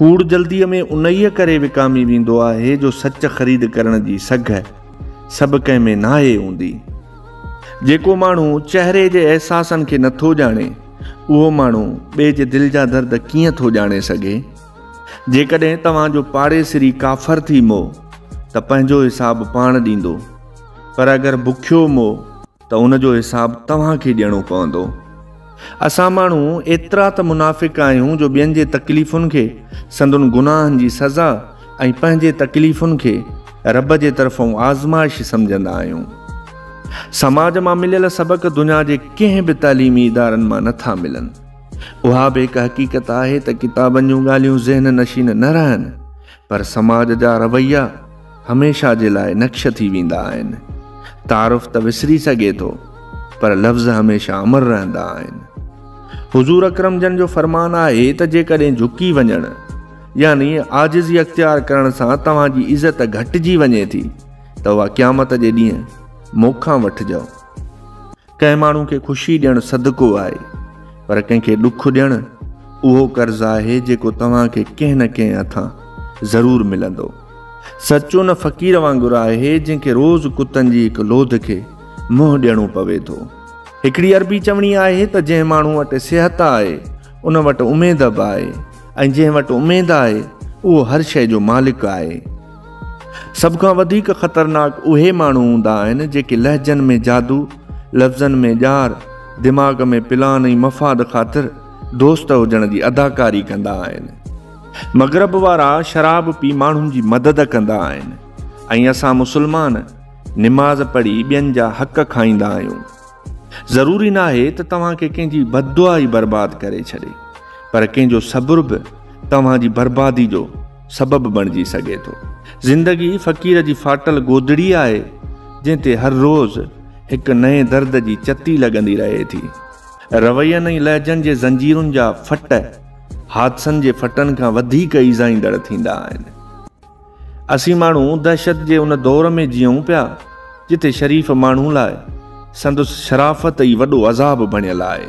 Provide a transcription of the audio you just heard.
ڪوڙ جلديء ۾ انهيء ڪري وڪامي ويندو آهي جو سچ خريد ڪرڻ جي سگهه سڀ ڪنهن ۾ ناهي هوندي. جيڪو ماڻهو چهري جي احساسن کي نه ٿو ڄاڻي، اهو ماڻهو ٻئي جي دل جا درد ڪيئن ٿو ڄاڻي سگهي؟ جيڪڏهن توهان جو پاڙيسري ڪافر ٿي مئو ته پنهنجو حساب پاڻ ڏيندو، پر اگر بکيو مئو، ته ان جو حساب توهان کي ڏيڻو پوندو. اسان ماڻهو ايترا ته منافق آهيون جو ٻين جي تڪليفن کي سندن گناهن جي سزا ۽ پنهنجي تڪليفن کي رب جي طرفون آزمائش سمجهندا آهيون. سماج مان مليل سبق دنيا جي ڪنهن به تعليمي ادارن مان نه ٿا ملن. اها به هڪ حقيقت آهي ته ڪتابن جون ڳالهيون ذهن نشين نه رهن پر سماج جا رويا هميشه جي لاء نقش ٿي ويندا آهن. تعارف ته وسري سگهي ٿو پر لفظ هميشه امر رهندا آهن. حضور اڪرم جن جو فرمان آهي ته جيڪڏهن جهڪي وڃڻ يعني عاجزي اختيار ڪرڻ سان توهان جي عزت گهٽجي وڃي ٿي ته اها قيامت جي ڏينهن مون کان وٺجئو. ڪنهن ماڻهو کي خوشي ڏيڻ صدقو آهي پر ڪنهن کي ڏک ڏيڻ اهو قرض آهي جيڪو توهان کي ڪنهن نه ڪنهن هٿان ضرور ملندو. سچ ان فقير وانگر آهي جنهن کي روز ڪتن جي هڪ لوڌ کي منهن ڏيڻو پوي ٿو. هڪڙي عربي چوڻي آهي ته جنهن ماڻهو وٽ صحت آهي ان وٽ اميد به آهي ۽ جنهن وٽ اميد آهي اهو هر شيء جو مالڪ آهي. سڀ کان وڌيڪ خطرناڪ اهي ماڻهو هوندا آهن جيڪي لهجن ۾ جادو، لفظن ۾ ڄار، دماغ ۾ پلان ۽ مفاد خاطر دوست هجڻ جي اداڪاري ڪندا آهن. مغرب وارا شراب پي ماڻهن جي مدد ڪندا آهن ۽ اسان مسلمان نماز پڙهي ٻين جا حق کائيندا آهيون. ضروري ناهي ته توهان کي ڪنهن جي بددعا ئي برباد ڪري ڇڏي پر ڪنهن جو صبر به توهان جي بربادي جو سبب بڻجي سگهي ٿو. زندگي فقير جي ڦاٽل گودڙي آهي، جنهن تي هر روز هڪ نئين درد جي چتي لڳندي رهي ٿي. روين ۽ لهجن جي زنجيرن جا ڦٽ حادثن جي ڦٽن کان وڌيڪ ايذائيندڙ ٿيندا آهن. اسين ماڻهو دهشت جي ان دور ۾ جيئون پيا، جتي شريف ماڻهو لاء سندس شرافت ئي وڏو عذاب بڻيل آهي.